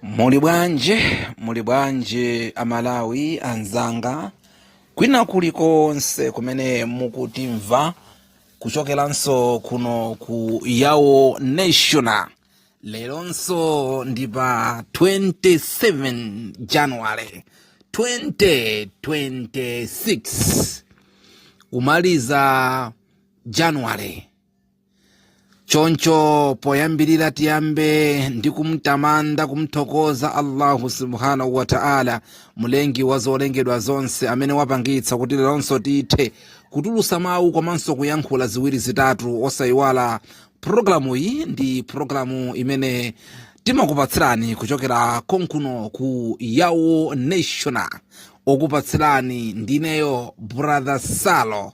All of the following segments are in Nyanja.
muli bwanji muli bwanji a malawi anzanga kwina kulikonse kumene mukutimva kuchokeranso kuno ku yawo national leronso ndi pa 27 january 2026 kumaliza january choncho poyambirira tiyambe ndi kumtamanda kumthokoza allahu subhanahu wa taala mlengi wa zolengedwa zonse amene wapangitsa kuti leronso tithe kutulutsa mawu komanso kuyankhula ziwiri zitatu osayiwala pulogalamu iyi ndi pulogalamu imene timakupatsirani kuchokera konkuno ku yawo national okupatsirani ndineyo brother salo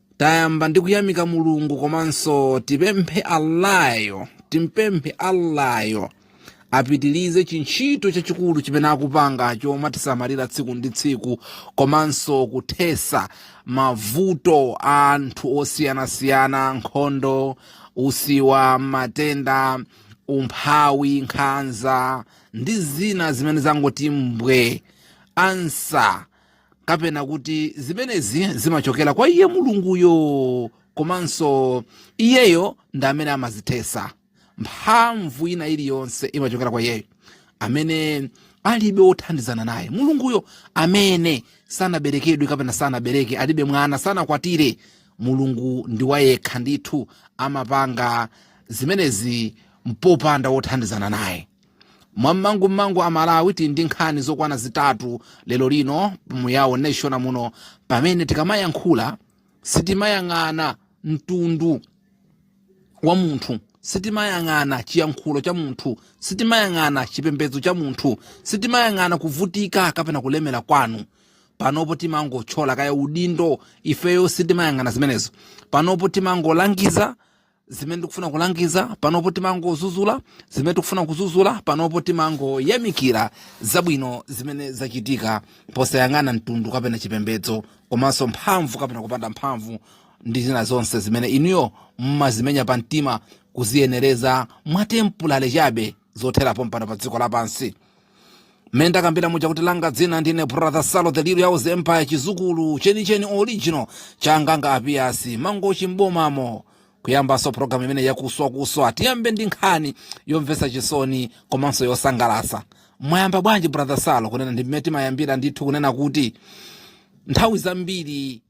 tayamba ndi kuyamika mulungu komanso tipemphe allah yo timpemphe allah yo apitilize chintchito chachikulu chimene akupanga chomatisamalira tsiku ndi tsiku komanso kuthesa mavuto a anthu osiyanasiyana nkhondo usiwa matenda umphawi nkhanza ndi zina zimene zangoti mbwe ansa kapena kuti zimenezi zimachokera kwa iye mulunguyo komanso iyeyo ndi amene amazithesa mphamvu ina iliyonse imachokera kwa iyeyo amene alibe wothandizana naye mulunguyo amene sanaberekedwe kapena sanabereke alibe mwana sanakwatire mulungu ndi wayekha ndithu amapanga zimenezi mpopanda wothandizana naye mwammangumangu a malawi tili ndi nkhani zokwana zitatu lero lino mu yawo national muno pamene tikamayankhula sitimayang'ana mtundu wa munthu sitimayang'ana chiyankhulo cha munthu sitimayang'ana chipembedzo cha munthu sitimayang'ana kuvutika kapena kulemera kwanu panopo timangotchola kaya udindo ifeyo sitimayang'ana zimenezo panopo timangolangiza zimene tikufuna kulangiza panopo timangozuzula zimene tikufuna kuzuzula panopo timangoyamikira zabwino zimene zachitika posayang'ana mtundu kapena chipembedzo komanso mphamvu kapena kupanda mphamvu ndi zina zonse zimene inuyo mmazimenya pa mtima kuziyenereza mwatempulale chabe zothera pompano pa dziko lapansi mmene ndakambira muja kuti langa dzina ndine brother salo the little yawos empire chizukulu chenicheni original cha anganga apiyasi mangochi mbomamo kuyambanso programu imene yakuswakuswa tiyambe ndi nkhani yomvetsa chisoni komanso yosangalasa mwayamba bwanji brother salo kunena ndi mmene timayambira ndithu kunena kuti nthawi zambiri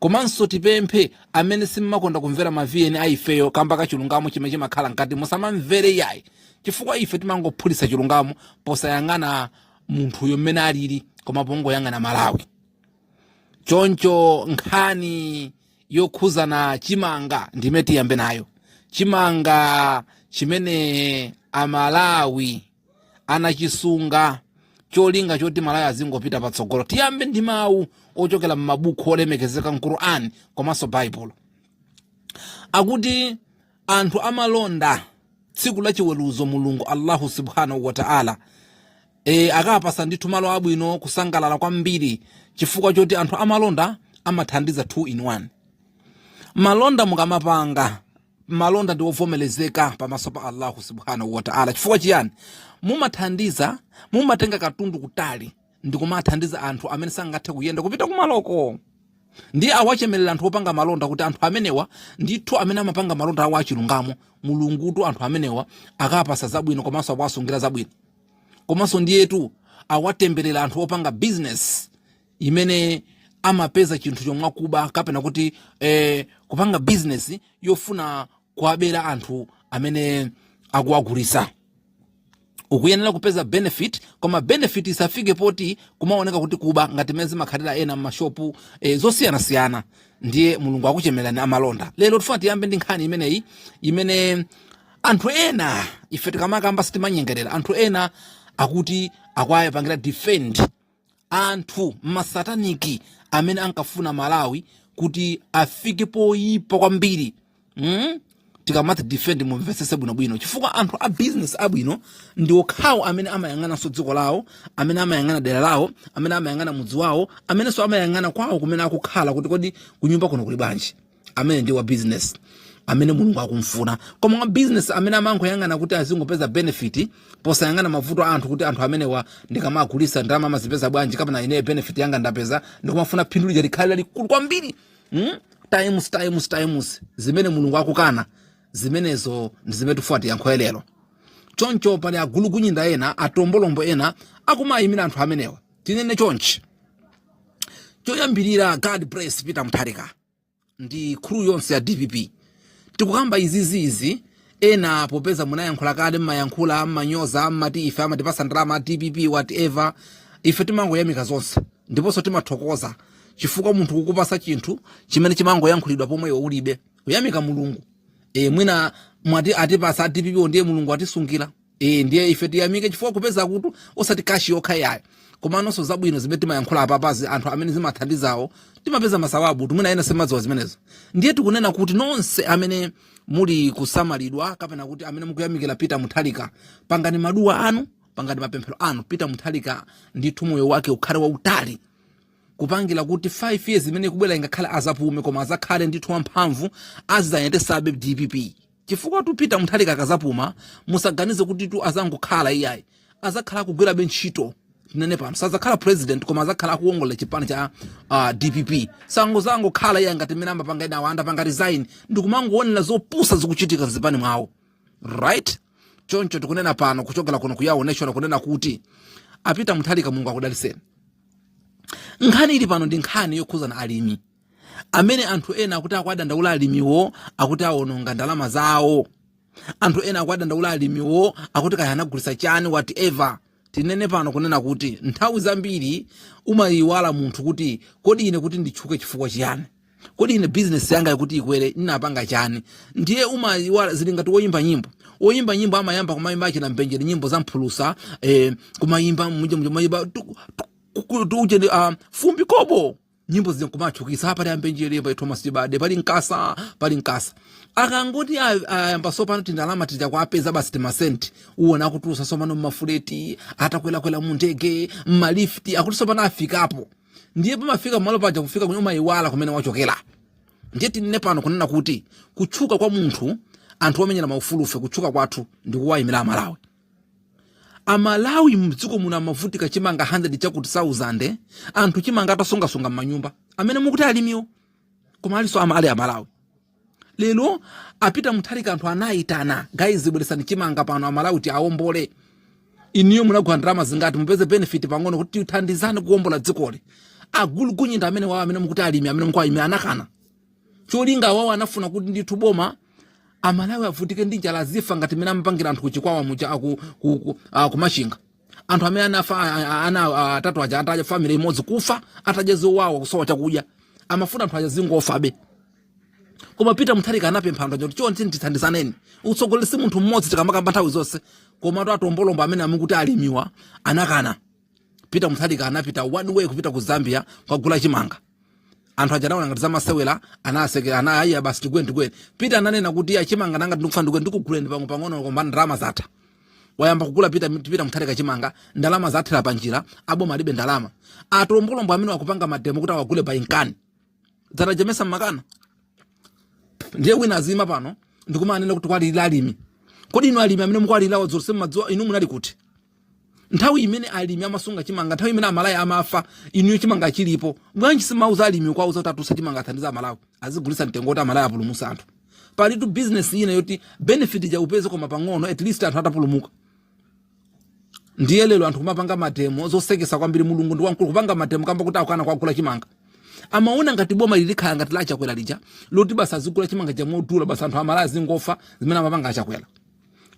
komanso tipemphe amene simmakonda kumvera ma vn a ifeyo kamba ka chilungamo chimene chimakhala mkati musamamvere iyayi chifukwa ife timangophulitsa chilungamo posayang'ana munthuyo mmene alili koma pongoyang'ana malawi choncho nkhani yokhuzana chimanga ndi imene tiyambe nayo chimanga chimene amalawi anachisunga cholinga choti malawi izingopita patsogolo tiyambe ndi mawu ochokera m'mabuku olemekezeka mquran komanso baibulo akuti anthu amalonda tsiku la chiweruzo mulungu allahu subhanahu wataala e, akapasa ndithu malo abwino kusangalala kwambiri chifukwa choti anthu amalonda amathandiza 2 in 1 malonda mukamapanga malonda ndi ovomerezeka pamaso pa Allahu subhanahu wa ta'ala. Chifukwa chiyani? Mumathandiza, mumatenga katundu kutali ndi kumathandiza anthu amene sangathe kuyenda kupita kumaloko ndiye awachemerera anthu opanga malonda kuti anthu amenewa ndithu amene amapanga malonda awo achilungamo mulungutu anthu amenewa akapasa zabwino komanso akuwasungira zabwino komanso ndiyetu awatemberera anthu opanga bizinesi imene amapeza chinthucho mwakuba kapena kuti eh, kupanga bizinesi yofuna kuwabera anthu amene akuwagulisa ukuyenera kupeza benefit koma benefit isafike poti kumaoneka kuti kuba ngati mmene zimakhalira ena m'mashopu e, zosiyanasiyana ndiye mulungu akuchemerera amalonda lero tifuna tiyambe ndi nkhani imeneyi imene anthu ena ife tikamakamba sitimanyengerera anthu ena akuti akuwapangira defend anthu masataniki amene ankafuna malawi kuti afike poyipa kwambiri mm? tikamati defend mumvetsese bwinobwino chifukwa anthu a business abwino ndi okhawo amene amayang'ananso dziko lawo amene amayang'ana dera lawo amene amayang'ana mudzi wawo amenenso amayang'ana kwawo kumene akukhala kuti kodi kunyumba kuno kuli bwanji ameneyo ndi wa business amene mulungu akumfuna koma wa business amene amangoyang'ana kuti azingopeza benefit posayang'ana mavuto a anthu kuti anthu amenewa ndikamagulisa ndalama amazipeza bwanji kapena ineyo benefit yanga ndapeza ndikumafuna phindu lija likhale lalikulu kwambiri mm? times times times zimene mulungu akukana zimenezo ndi zimene tifuna tiyankhe lero choncho pali agulugunyinda ena atombolombo ena akumayimira anthu amenewa tinene chonchi choyambirira god bless peter mutharika ndi crew yonse ya dpp tikukamba izizizi ena popeza munayankhula kale mmayankhula mmanyoza mmati ife amatipasa ndalama dpp whatever ife timangoyamika zonse ndiponso timathokoza chifukwa munthu kukupasa chinthu chimene chimangoyankhulidwa pomwe iwe ulibe umayamika mulungu e, mwina mwati atipasa dpp ndiye mulungu atisungira e, ndiye ife tiyamike chifukwa kupeza kuti osati kashi yokha yayi komanso zabwino zimene timayankhula apapazi anthu amene zimathandizawo timapeza masawabu mwina ena semadziwa zimenezo ndiye tikunena kuti nonse amene muli kusamalidwa kapena kuti amene mukuyamikira Peter Mutharika pangani maduwa anu pangani mapemphero anu Peter Mutharika ndithu moyo wake ukhale wautali kupangira kuti 5 years imene ikubwera ingakhale azapume koma azakhale ndithu wamphamvu azidzayendesabe dpp Chifukwatu Peter Mutharika akazapuma musaganize kutitu azangokhala iyayi azakhala akugwirabe ntchito tinene pano sazakhala president koma azakhala akuwongolela chipani cha uh, dpp sangazangokhala iyayi ngati mmene amapanga ena akangopanga resign ndikumangowonera zopusa zikuchitika mzipani mwawo right choncho tikunena pano kuchokera kuno kuyawo national kunena kuti a Peter Mutharika mulungu akudaliseni nkhani ili pano ndi nkhani yokhuzana ndi alimi amene anthu ena akuti akuwadandaula alimiwo akuti awononga ndalama zawo anthu ena akuwadandaula alimiwo akuti kaya anagulisa chani whatever tinene pano kunena kuti nthawi zambiri umayiwala munthu kuti kodi ine kuti nditchuke chifukwa chiyani kodi ine bizinesi yanga kuti ikwere inapanga chani ndiye umayiwala zili ngati woyimba nyimbo woyimba nyimbo amayamba kumayimba achina mbenjere nyimbo za mphulusa eh, kumayimba muja kumayimba fumbi kobo nyimbo zija kumatchukitsa paja ambenjere pali thomas chibade pali nkasa pali nkasa akangoti a- ayamba sopano tindalama tija kuwapeza basi timasenti uwona akutulutsa sopano mmafuleti atakwelakwela mu ndege mmalifti akuti sopano afikapo ndiye pamafika malo paja kufika kwinaku umayiwala kumene wachokera ndiye tinene pano kunena kuti kutchuka kwa munthu anthu omenyera maufulu ife kutchuka kwathu ndi kuwayimira amalawi amalawi mdziko muno amavutika chimanga 100 chakuti 1000 anthu chimanga atasungasunga mmanyumba amene mukuti alimiwo koma alinso ama ali amalawi lero a Peter Mutharika anthu anayitana guys bweresani chimanga pano amalawi tiwaombole iniyo munagula ndalama zingati mupeze benefit pang'ono kuti tithandizane kuombola dzikoli agulugunyinda amene wawo amene mukuti alimi amene mukuti alimi anakana cholinga awawo anafuna kuti ndithu boma amalawi avutike ndi njala azifa ngati mene amapangira anthu kuchikwawa muja aku- ku- ku- ah, kumachinga anthu amene anafa ah, ah, ana ah, atatu aja ataja family imodzi kufa atadya zowawa kusowa chakudya amafuna anthu aja azingofabe koma peter mutharika anapempha anthu aja kuti chonde ndithandizaneni utsogoleri si munthu mmodzi tikamakamba nthawi zonse komatu atombolombo amene amukuti alimiwa anakana peter mutharika anapita one way kupita ku zambia kukagula chimanga anthu aja anaona ngati zamasewera anasekera anati iya basi tiguleni tiguleni peter ananena kuti ya chimanga nanga ndikufuna ndiguleni ndikuguleni pang'ono pang'ono koma ndalama zatha wayamba kugula Peter Peter Mutharika chimanga ndalama zathera panjira aboma alibe ndalama atombolombo amene akupanga mademo kuti awagule by nkani dzataja mesa mmakana ndiye wina azima pano ndikumanena kuti kuwalirira alimi kodi inu alimi amene mukuwalirirawa zonse mumadziwa inu munali kuti nthawi imene alimi amasunga chimanga nthawi imene amalawi amafa inuyo chimanga chilipo bwanji simauza alimi kuwauza kuti atulutse chimanga athandize amalawi azigulisa mtengo kuti amalawi apulumutse anthu palitu business ina yoti benefit ja upeze koma pang'ono at least anthu atapulumuka ndiye lero anthu kumapanga mademo zoseketsa kwambiri mulungu ndi wamkulu kupanga mademo kamba kuti akukana kuwagula chimanga amaona ngati boma lizikhala ngati la achakwera lija loti basi azigula chimanga chomodula basi anthu amalawi azingofa zimene amapanga achakwera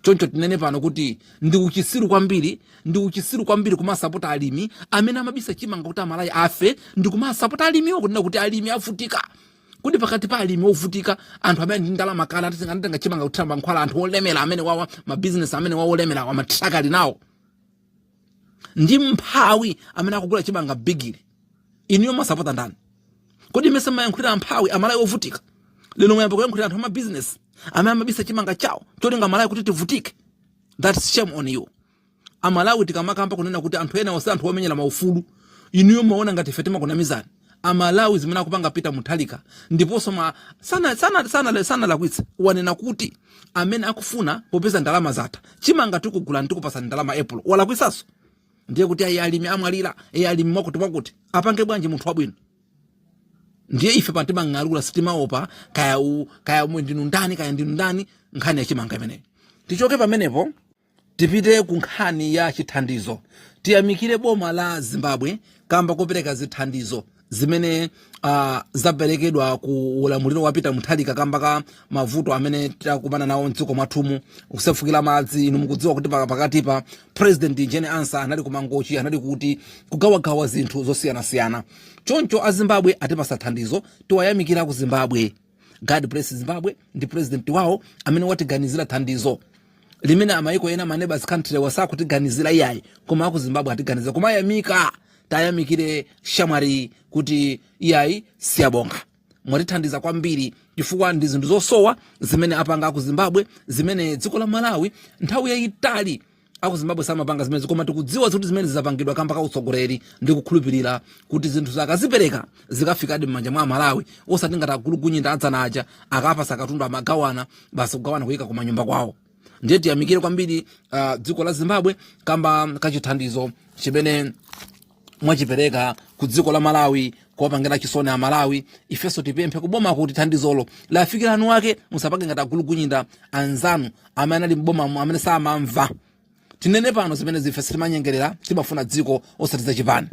choncho tinene pano kuti ndi uchitsiru kwambiri ndi uchitsiru kwambiri kumasapota alimi amene amabisa chimanga kuti amalawi afe ndi kumasapota alimiwo kunena kuti alimi avutika kodi pakati pa alimi ovutika anthu amene ali ndi ndalama kale atatenga anatenga chimanga kuthira mankhwala anthu olemera amenewawa amabizinesi amenewawa olemerawa matraka ali nawo ndi mphawi amene akugula chimanga bigili inuyo mumasapota ndani kodi mesa mumayankhulira amphawi amalawi ovutika lero mwayamba kuyankhulira anthu amabizinesi amene amabisa chimanga chawo cholinga amalawi kuti tivutike that's shame on you A Malawi tikamakamba kunena kuti anthu enawo si anthu omenyera ma ufulu, inuyo mumaona ngati ife timakunamizani? A Malawi zimene akupanga Peter Mutharika ndiponso ma, sana, sana, sana, sanalakwitse. Wanena kuti amene akufuna, popeza ndalama zatha, chimanga tikugulani tikupatsani ndalama April. Walakwitsanso? Ndiye kuti ayi alimi amwalira, e alimi mwakuti mwakuti. Apange bwanji munthu wabwino? Ndiye ife pano timang'alura sitimaopa kaya u, kaya ndinu ndani kaya ndinu ndani nkhani ya chimanga imeneyo. Tichoke pamenepo. Tipite ku nkhani ya chithandizo. Tiyamikire boma la Zimbabwe kamba kopereka zithandizo zimene uh, zaperekedwa ku ulamuliro wa Peter Mutharika kamba ka mavuto amene takumana nawo mdziko mwathumu kusefukira madzi. Inu mukudziwa kuti pakatipa President Jane Ansah anali ku Mangochi anali kuti kugawagawa zinthu zosiyanasiyana, choncho a Zimbabwe atipatsa thandizo, tiwayamikira ku Zimbabwe. god bless zimbabwe ndi president wawo amene watiganizira thandizo limene amayiko ena ma neighbours country-wa sakutiganizira iyayi koma aku zimbabwe atiganizira koma ayamika tiwayamikire shamwari kuti iyayi siyabonga mwatithandiza kwambiri chifukwa ndi zinthu zosowa zimene apanga aku zimbabwe zimene dziko la malawi nthawi yayitali aku zimbabwe samapanga zimenezi koma tikudziwa zoti zimenezi zapangidwa kamba ka utsogoleri ndi kukhulupirira kuti zinthu akazipereka zikafikadi m'manja mwa amalawi osati ngati agulugunyinda adzana aja akapatsa katundu amagawana basi kugawana kuyika kumanyumba kwawo ndiye tiyamikire kwambiri ah, dziko la zimbabwe kamba kachithandizo chimene mwachipereka ku dziko la malawi kuwapangira chisoni a malawi ifenso tipemphe kuboma kuti thandizolo lafikira eni ake musapange ngati agulugunyinda anzanu amene anali m'bomamo amene samamva tinene pano zimene zife sitimanyengerera timafuna dziko osati zachipani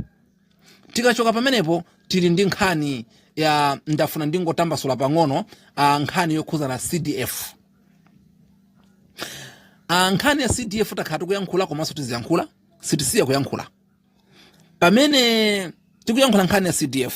tikachoka pamenepo tili ndi nkhani ya ndafuna ndingotambasula pang'ono a nkhani yokhuza na cdf a nkhani ya cdf takhala tikuyankhula komanso tiziyankhula sitisiya kuyankhula pamene tikuyankhula nkhani ya cdf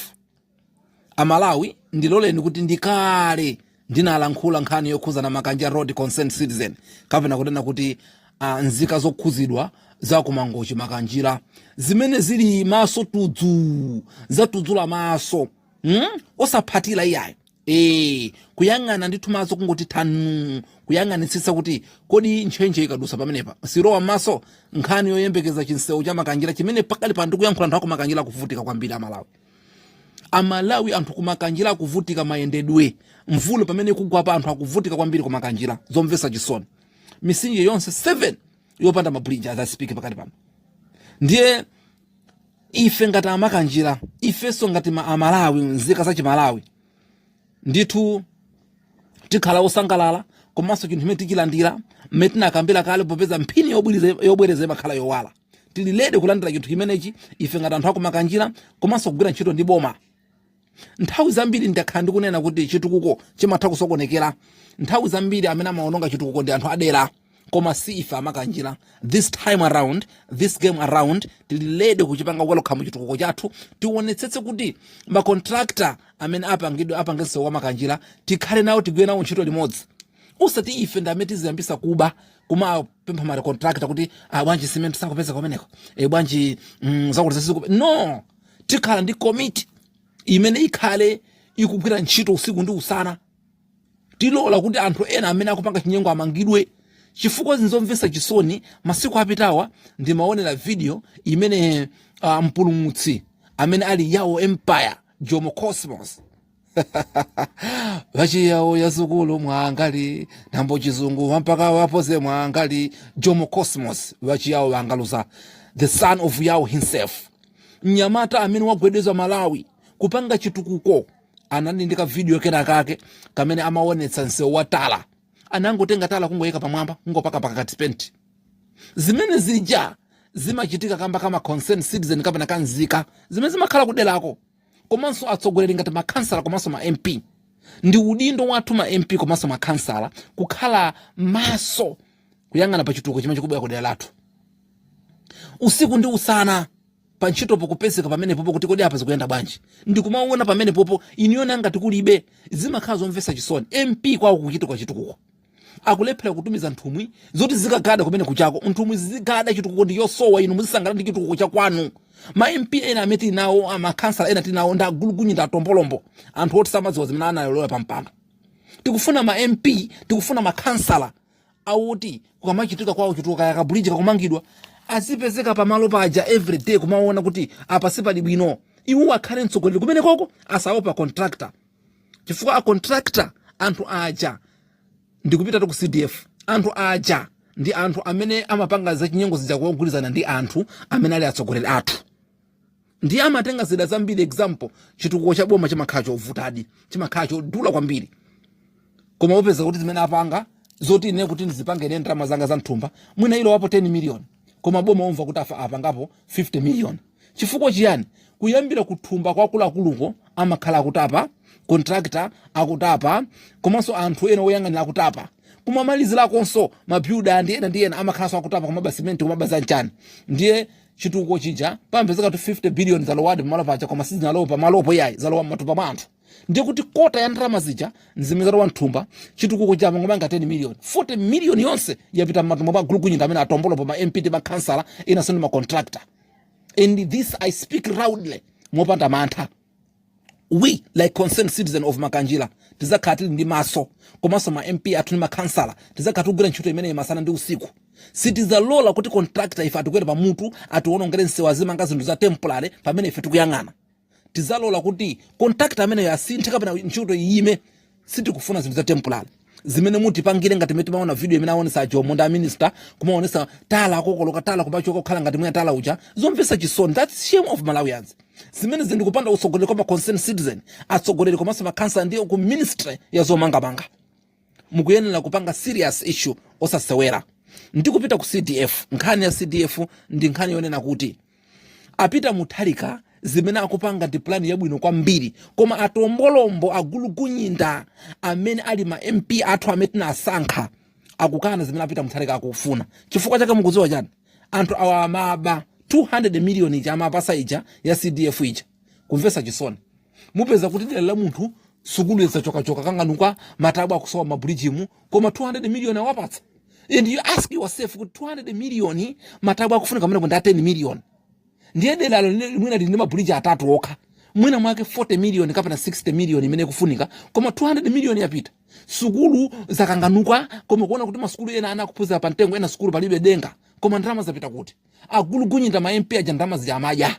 amalawi ndiloleni kuti ndikale ndinalankhula nkhani yokhuzana makanjira road concern citizen kapena kunena kuti uh, nzika zokhuzidwa za ku mangochi makanjira zimene zili maso tudzu zatudzula maso hmm? osaphethira iyayi e, kuyang'ana ndithu maso kungoti thanu kuyang'anitsitsa kuti kodi ntchentche ikadusa pamenepa silowa mmaso nkhani yoyembekeza chinsewu cha makanjira chimene pakali pano tikuyankhula anthu akumakanjira akuvutika kwambiri amalawi amalawi anthu kumakanjira akuvutika mayendedwe mvula mmene ikugwa apa anthu akuvutika kwambiri kumakanjira zomvesa chisoni misinje yonse 7 yopanda mabridge as i speak pakali pano ndiye ife ngati amakanjira ifenso ngati ma- amalawi nzika za chimalawi ndithu tikhala osangalala komanso chinthu chimene tichilandira mmene tinakambira kale popeza mphini yobwiriza- yobwereza imakhala yowala tili ready kulandira chinthu chimenechi ife ngati anthu akumakanjira komanso kugwira ntchito ndi boma nthawi zambiri ndakhala ndikunena kuti chitukuko chimatha kusokonekera nthawi zambiri amene amaononga chitukuko ndi anthu adera koma si ife amakanjira this time around this game around tili ready kuchipanga welcome chitukuko chathu tionetsetse kuti makontrakta amene apangidwe apange nsewu wa makanjira tikhale nawo tigwire nawo ntchito limodzi osati ife ndi amene tiziyambisa kuba kumapempha ma road contractor kuti ah, bwanji simenti sakupeza kumeneko e, bwanji mm, zakuti zasiku no tikhala ndi komiti imene ikhale ikugwira ntchito usiku ndi usana tilola kuti anthu ena amene akupanga chinyengo amangidwe chifukwa zinzomvesa chisoni masiku apitawa ndimaonera video imene uh, mpulumutsi amene ali yao empire jomo cosmos vachiyawo ya sukulu nganimwali nambo chizungu wampaka wapoze mwangali jomo cosmos vachiyawo vangaluza the son of yao himself mnyamata amene wagwedeza malawi kupanga chitukuko anali ndi kavidiyo kena kake kamene amaonetsa msewu wa tala anangotenga tala kungoyika pamwamba kungopaka pakati penti zimene zija zimachitika kamba ka ma concern citizen kapena kanzika zimene zimakhala kuderako komanso atsogoleri ngati makhansala komanso ma MP. Ndi udindo wathu ma MP komanso makhansala kukhala maso kuyang'ana pa chitukuko chimene chikubwera ku dera lathu usiku ndi usana pa ntchitopo kupezeka pamenepopo kuti kodi apa zikuyenda bwanji ndi kumaona pamenepopo inuyo ngati kulibe zimakhala zomvetsa chisoni MP kwawo kuchitika chitukuko akulephera kutumiza nthumwi zoti zikagade kumene kuchako nthumwi zizigada chitukuko ndiye osowa inu muzisangala ndi chitukuko cha kwanu ma mp ena amene tili nawo amakhansala ena tili nawo ndi agulukunyinda atombolombo anthu oti samadziwa zimene analowera pa mpando tikufuna ma mp tikufuna makhansala awoti kukamachitika kwawo chitukuko kaya kabuliji kakumangidwa azipezeka pamalo paja everyday kumaona kuti apa sipali bwino iwo akhale mtsogoleri kumene koko osaopa contractor chifukwa a contractor anthu aja ndikupita ku cdf anthu aja ndi anthu amene amapanga zachinyengo zija kugwirizana ndi anthu amene ali atsogoleri athu ndiye amatenga zida zambiri example chitukuko cha boma chimakhala chovutadi chimakhala chodula kwambiri koma upeza kuti zimene apanga zoti ine kuti ndizipange ine ndalama zanga za mthumba mwina ilowapo 10 million koma boma umva kuti apa apangapo 50 million chifukwa chiyani kuyambira kuthumba kwa akuluakuluko amakhala akutapa contractor akutapa komanso anthu ena oyang'anira akutapa kumamalizirakonso mabuilder ndi ena ndi ena amakhalanso akutapa kumaba simenti kumaba zanchani ndiye chitukuko chija pamapezeka kuti 50 billion zalowadi pamalo paja koma sizinalowa pamalopo yayi zalowa mmatumba mwa anthu ndiye kuti kota ya ndalama zija nzimene zalowa mthumba chitukuko chamangomanga 10 million 40 million yonse yapita mmatumba mwa agulukunyinda amene atombolo pa ma MP ndi ma councilor enanso ndi ma contractor and this I speak loudly mopanda mantha we like concerned citizen of makanjira tizakhala tili ndi maso komanso ma MP athu ndi ma councilor tizakhala tikugwira ntchito imeneyi masana ndi usiku sitizalola kuti contractor ife atikwere pa mutu atiwonongere nsewu azimanga zinthu za temporary pamene ife tikuyang'ana tizalola kuti contractor ameneyo asinthe kapena ntchito iyime sitikufuna zinthu za temporary zimene mutipangire ngati mene timaona video imene aonesa ajomo ndi aminister kumaonesa tala akokoloka tala kumachoka kukhala ngati mwina tala uja zomvesa chisoni that's shame of malawians zimenezi ndi kupanda utsogoleri kwa ma concerned citizen atsogoleri komanso makhansala ndiye ku ministry ya zomangamanga mukuyenera kupanga serious issue osasewera ndikupita ku cdf nkhani ya cdf ndi nkhani yonena kuti A Peter Mutharika zimene akupanga ndi plan yabwino kwambiri koma atombolombo agulukunyinda amene ali ma MP athu amene tinasankha akukana zimene a Peter Mutharika akufuna. Chifukwa chake mukudziwa chani? Anthu awa amaba 200 million ija amapasidwa ija ya CDF ija. kumvesa chisoni mupeza kuti dela la munthu sukulu yazachokachoka kanganuka matabu akusowa mabridge mu koma 200 million awapatsa and you ask yourself kuti 200 million matabu akufunika mene kundi 10 million ndiye dela lina mwina lili ndi mabuliji atatu okha mwina mwake 40 million kapena 60 million imene ikufunika koma 200 million yapita sukulu zakanganuka koma kuona kuti masukulu ena ana akuphunzira pa mtengo ena sukulu palibe denga koma ndalama zapita kuti agulugunyinda ma mp aja ndalama zija amadya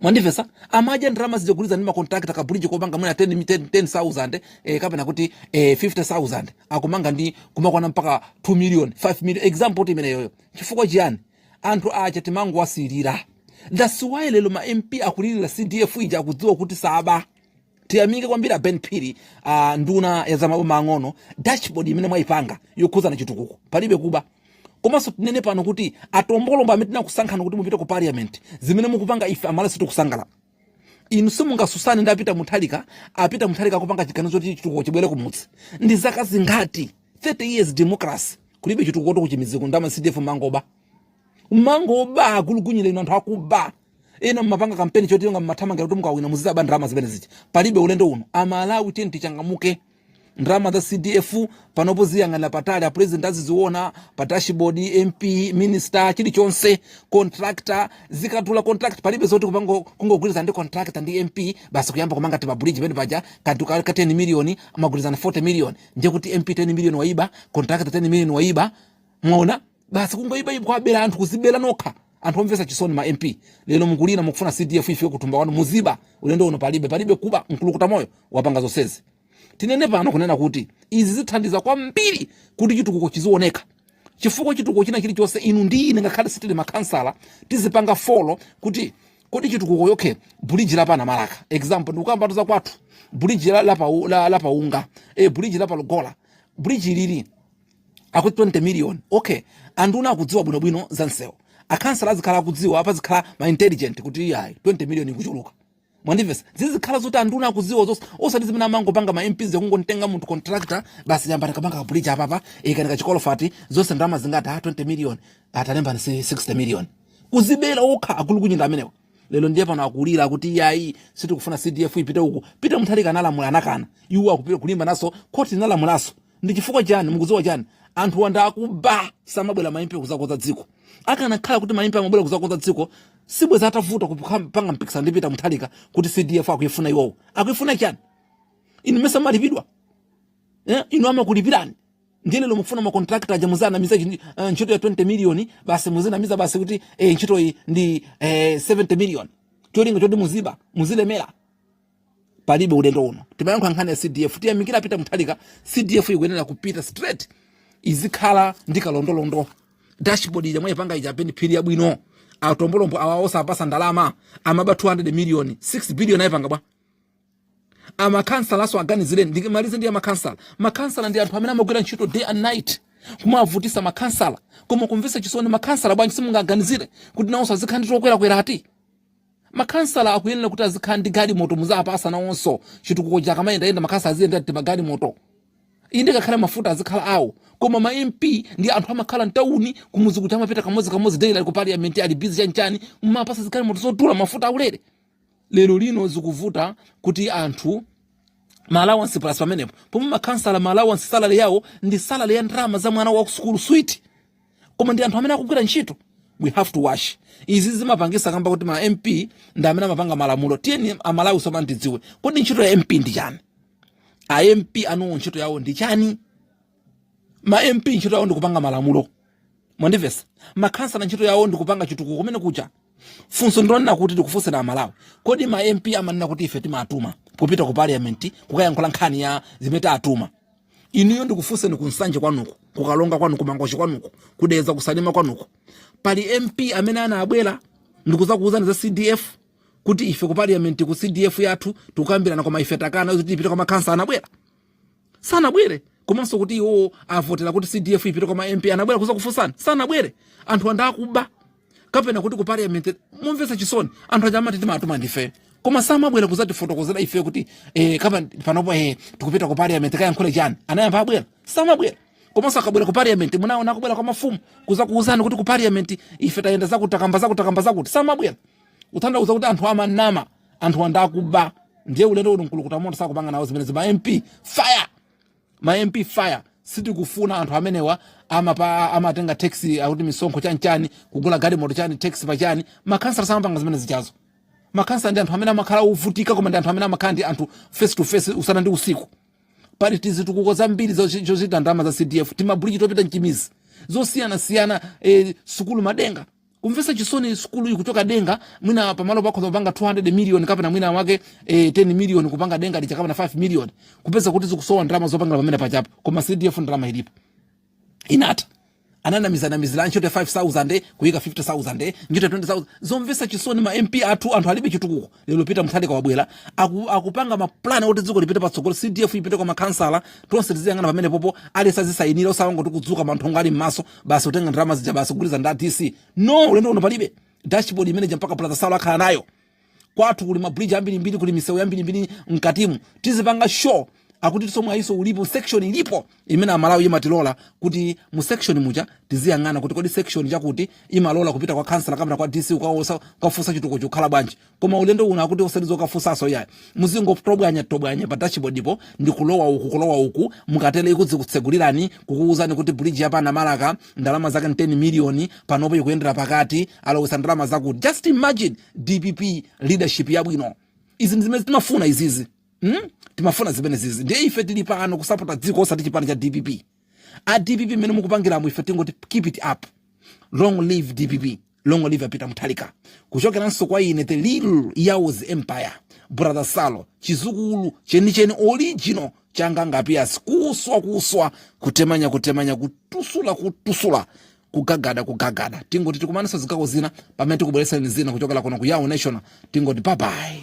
mwandivesa amadya ndalama zija kugwirizana ndi ma contractor kabuliji kopanga mwina 10 mi- 10 10000 eh, kapena kuti eh, 50000 akumanga ndi kumakwana mpaka 2 million 5 million example kuti imeneyo chifukwa chiyani anthu aja timangowasiyira that's why lero ma mp akulilira cdf ija akudziwa kuti saba tiyamike kwambiri aben phiri a nduna ya zamaboma ang'ono dashboard imene mwayipanga yokhuzana chitukuko palibe kuba komanso tinene pano kuti atombolombo amene tinakusankhani kuti mupite ku parliament zimene mukupanga ife amalawi sitikusangalala inu simungasusane ndi a Peter Mutharika a Peter Mutharika akupanga chiganizo choti chitukuko chibwere kumudzi ndi zaka zingati 30 years democracy kulibe chitukuko tokutchimidziko ndalama cdf mangoba mangoba agulugunyinda inu anthu akuba ena mmapanga kampeni choti onga mmathamangira kuti mukawina muzizaba ndalama zimene zija palibe ulendo uno amalawi tiyeni tichangamuke ndalama za cdf panopo ziyang'anira patali apresident aziziona pa dashboard mp minister chilichonse contractor zikatula contract palibe zoti kupanga kungogwirizana ndi contractor ndi mp basi kuyamba kumanga ti mabridge pene paja kantu ka ka 10 million amagwirizana 40 million ndiye kuti mp 10 million waiba contractor 10 million waiba mwaona basi kungoiba iba kuwabera anthu kuzibera nokha anthu omvesa chisoni ma MP lero mukulira mukufuna CDF ife kutumba wanu muziba ulendo uno palibe palibe kuba mkulukuta moyo wapanga zonsezi tinene pano kunena kuti izi zithandiza kwambiri kuti chitukuko chizioneka chifukwa chitukuko china chili chonse inu ndi ine ngakhale sitili makhansala tizipanga follow kuti kodi chitukuko okay bridge la pana malaka example ndikukambatu za kwathu bridge la la, la, la paunga e eh, bridge la palugola bridge lili akuti 20 million okay anduna akudziwa bwinobwino za msewu akhansala azikhala akudziwa apa zikhala ma intelligent kuti iyayi 20 million ikuchuluka mwandimvesa zizikhala zoti anduna akudziwa zonse osati zimene amangopanga ma mps kungomtenga munthu contractor basi yambani kupanga kabuliji apapa ikanika chikolofati zonse ndalama zingati ha 20 million atalemba ndi 60 million kuzibera okha agulugunyinda amenewa lero ndiye pano akulira kuti iyayi sitikufuna cdf ipite uku Peter Mutharika analamula anakana iwo akupita kulimbanaso khoti linalamulanso ndi chifukwa chani mukudziwa chani anthu andakuba samabwera maimpe kuzakoza dziko akanakhala kuti maimpe amabwera kuzakoza dziko sibweza atavuta kupanga mpikisano ndi Peter Mutharika kuti CDF akuyifuna iwowo akuyifuna chani inu mesa mumalipidwa eh inu amakulipirani ndiye lero mukufuna ma contractor aja muziwanamiza uh, ntchito ya 20 million basi muzinamiza basi kuti eh, ntchito iyi ndi eh, 70 million cholinga choti muziba muzilemera palibe ulendo uno timayankha nkhani ya cdf tiyamikire a Peter Mutharika cdf ikuyenera kupita straight izikhala ndi kalondolondo dashboard ija mwayipanga ija Ben Phiri yabwino atombolombo awa osawapasa ndalama amaba 200 million 6 billion ayipanga bwa makansala nawonso aganizireni ndimalize ndi makansala makansala ndi anthu amene amagwira ntchito day and night kumavutisa makansala koma kumvesa chisoni makansala bwanji simungawaganizire kuti nawonso azikhala ndi tokwerakwera ati Makhansala akuyenera kuti azikhala ndi galimoto muzawapasa nawonso chitukuko chikamayendayenda makhansala aziyendera timagalimoto inde ngakhale mafuta azikhala awo koma ma mp ndi anthu amakhala mtawuni kumuzi kuja amapita kamodzi kamodzi daily ali ku parliament ali busy chanichani mumawapasa zigalimoto zodula mafuta aulere lero lino zikuvuta kuti anthu ma allowance plus pamenepo pomwe makhansala ma allowance salary yawo ndi salary ya ndalama za mwana wa kusukulu switi koma ndi anthu amene akugwira ntchito we have to watch izi zimapangika kamba kuti ma mp ndi amene amapanga malamulo tiyeni amalawi tsopano tidziwe kodi ntchito ya mp ndi chani a mp anuwo ntchito yawo ndi chani ma mp ntchito yawo ndi kupanga malamulo mwandivesa makhansala ntchito yawo ndi kupanga chitukuko kumene kuja funso ndilonena kuti tikufunseni amalawi kodi ma mp amanena kuti ife timawatuma kupita ku parliament kukayankhula nkhani ya zimene tawatuma inuyo ndikufunseni ku nsanje kwanuko kukalonga kwanu kumangochi kwanuko kudeza kusalima kwanuko pali mp amene anabwera ndikuzakuwuzani za cdf kuti ife ku parliament ku cdf yathu tikukambirana koma ife takana kuti ipite kwa makhansala anabwera sanabwere komanso kuti iwowo avotera kuti cdf ipite kwa ma mp anabwera kuzakufunsani sanabwere anthu andakuba kapena kuti ku parliament kumvetsa chisoni anthu aja amati timawatuma ndife koma samabwera kuzatifotokozera ife kuti eh, kapena panopo eh, tikupita ku parliament tikayankhule chani anayamba abwera samabwera komanso akabwera ku parliament munaona akubwera kwa mafumu kuzakuuzani kuti ku parliament ife tayenda zakuti takamba zakuti takamba zakuti samabwera kutanthauza kuti anthu amanama anthu andakuba ndiye ulendo uno mkulukuta moto sakupanga nawo zimenezi ma mp fire ma mp fire sitikufuna anthu amenewa amapa amatenga tax akuti misonkho chani chani kugula galimoto chani tax pa chani makhansala samapanga zimene zijazo makhansala ndi anthu amene amakhala ovutika koma ndi anthu amene amakhala ndi anthu face to face usana ndi usiku pali tizitukuko zambiri zochi- zochita ndalama za cdf timabuliji topita m'timizi zosiyanasiyana eh, sukulu madenga kumvetsa chisoni sukulu iyi kuchoka denga mwina pamalo pakhoza kupanga 200 million kapena mwina wake eh, 10 million kupanga denga lija kapena 5 million kupeza kuti zikusowa ndalama zopangira pamene pachapo koma cdf ndalama ilipo inatha ananamizanamizira ntchito ya 5000 kuyika 50000 ntchito ya 20000 zomvetsa chisoni ma mp athu anthu alibe chitukuko lero peter muthalika wabwera aku, akupanga mapulani oti dziko lipite patsogolo cdf ipite kwa makhansala tonse tiziyang'ana pamene popo aliyense azisayinira osangoti kudzuka manthongo ali mmaso basi kutenga ndalama zija basi kugwirizana ndi a dc no ulendo uno palibe dashboard imeneja mpaka blaza salo akhala nayo kwathu kuli mabridge ambirimbiri kuli misewu yambirimbiri mkatimu tizipanga show akuti nsomba iyi so ulipo section ilipo imene amalawi imatilola kuti mu section muja tiziyang'ana kuti kodi section chakuti imalola kupita kwa kansala kapena kwa dc ukafunsa chitukuko chikukhala bwanji koma ulendo uno akuti osatizo ukafunsaso yayi muzingotobwanya tobwanya pa dashboardipo ndi kulowa uku kulowa uku mukatere izikutsegulirani kukuwuzani kuti bridge yapa namalaka ndalama zake 10 miliyoni panopo ikuyendera pakati alowetsa ndalama zakuti just imagine dpp leadership yabwino izi ndizimene timafuna izizi Hmm? timafuna zimenezizi ndiye ife tili pano kusapota dziko osati chipani cha dpp a dpp mmene mukupangiramo ife tingoti keep it up long live dpp long live a peter muthalika kuchokeranso kwa ine the little yaos empire brother salo chidzukulu chenicheni original changa ngapias kuswa kuswa kutemanya kutemanya kutusula kutusula kugagada kugagada tingoti tikumananso zikakhalako zina pamene tikubweretsa zina kuchokera kuno ku yao national tingoti babayi